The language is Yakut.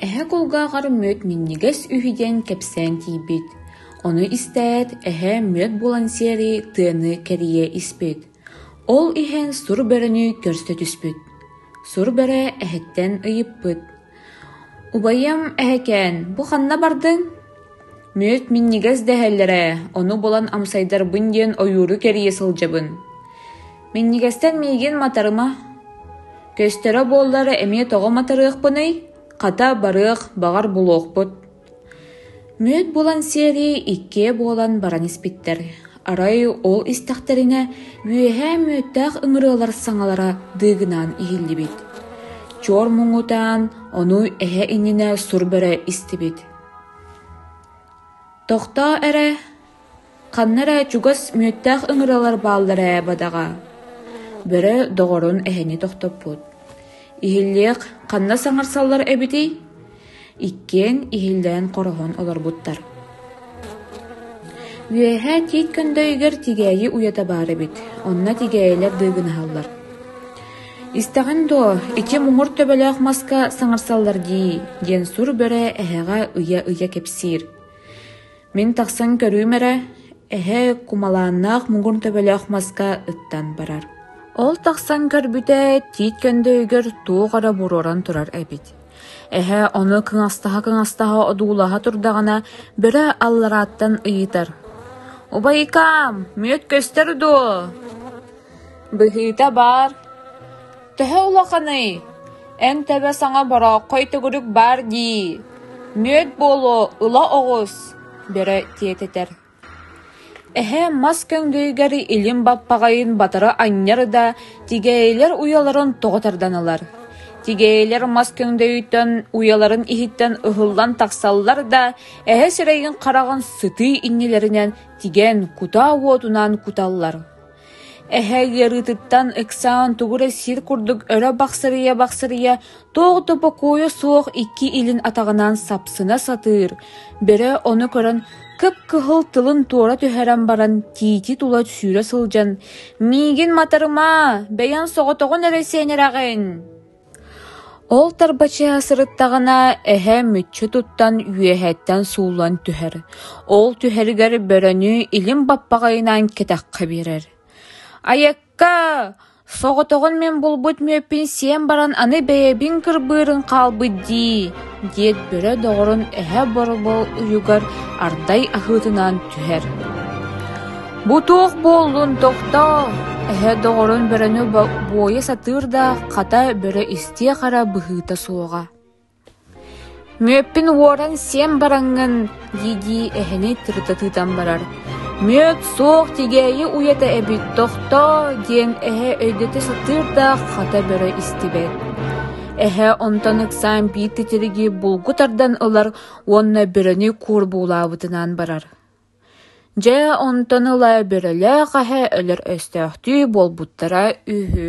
Эһэ кулгааҕар мүөт минньигэс үһү диэн кэпсээн тиийбит. Ону истээт, эһэ мүөт булан сиэри тыаны кэрийэ испит. Ол иһэн сур бөрөнү көрсө түспүт. Сур бөрө эһэттэн ыйыппыт. Убайым эһэкээн, бу ханна бардыҥ? Мүөт минньигэс дэһэллэр ээ, ону булан амсайдарбын диэн ойууру кэрийэ сылдьабын. Минньигэстэн миигин матарыма. Көстөрө буоллар эмиэ тоҕо матарыахпыный? Хата барыах, баҕар булуохпут Мүөт булан сиэрий иккиэ буолан баран испиттэр, арай ол истэхтэринэ үөһээ мүөттээх ыҥырыалар саҥалара дыыгынаан иһиллибит, чуор муҥутаан ону эһэ иннинэ сур бөрө истибит: «Тохтоо эрэ, Ханна эрэ чугас мүөттээх ыҥыралар бааллар ээ бадаҕа, бөрө доҕорун эһэни тохтоппут. Иһиллиэх ханна саҥарсаллар эбитий? Иккиэн иһиллээн хороһон олорбуттар Үөһээ Тиит Көндөйүгэр тигээйи уйата баар эбит, онно тигээйилэр дыыгынаһаллар Истэҕин дуо, ити муҥур төбөлөөх маска саҥарсаллар дии, диэн сур бөрө эһэҕэ ыйа-ыйа кэпсиир Мин тахсан көрүүм эрэ, эһээ кумалааннаах муҥур төбөлөөх маска ыттан барар. Ол тахсан көрбүтэ, тиит көндөйүгэр туох эрэ буруоран турар эбит. Эһээ ону кыҥастаһа-кыҥастаһа одуулаһа турдаҕына, бөрө алларааттан ыйытар: «Убайкаам, мүөт көстөр дуо?» Быһыыта баар, төһө улаханый, эн тэбэ саҥа борооххой төгүрүк баар дии, мүөт буолуо ыла оҕус, бөрө тиэтэтэр эһээм мас көҥдөйүгэр илин баппаҕайын батары анньар да тигээйилэр уйаларын тоҕо тарданалар, тигээйилэр мас көҥдөйүттэн уйаларын иһиттэн ыһыллан тахсаллар да эһэ сирэйин-хараҕын сытыы иннилэринэн тигэн кутаа уотунаан куталлар Эһээ ыарыытыттан ыксаан тугу эрэ сир курдук өрө бахсырыйа-бахсырыйа туох да бокуойа суох икки илин атаҕынан сапсына сатыыр, бөрө ону көрөн кып-кыһыл тылын туора түһэрэн баран тиити тула сүүрэ сылдьан: «Миигин матарымаа, бэйэҥ соҕотоҕун эрэ сиэнэрэҕин» Ол тарбачыйа сырыттаҕына, эһэ мүччү туттан үөһэттэн сууллан түһэр, ол түһэригэр бөрөнү илим баппаҕайынан кэтэххэ биэрэр: «Айакка, соҕотоҕун мин булбут мүөппүн сиэн баран аны бэйэбин кырбыырын хаалбыт дии» диэт бөрө доҕорун эһэ борбол уйугар ардай аһыытынан түһэр. «Бу туох буоллун, тохтоо!» эһэ доҕорун бөрөнү буойа сатыыр да, хата бөрө истиэ-хара быһыыта суоҕа. «Мүөппүн уоран сиэн бараҥҥын, дии-дии эһэни тырытатыытан барар «Мүөт суох тигээйи уйата эбит, тохтоо!» диэн эһэ өйдөтө сатыыр да хата бөрө истибэт. Эһэ онтон ыксаан биир титириги булгу тардан ылар уонна бөрөнү куорбуулаабытынан барар. Дьэ, онтон ыла бөрөлөөх аһа өлөр өстөөхтүү буолбуттара үһү.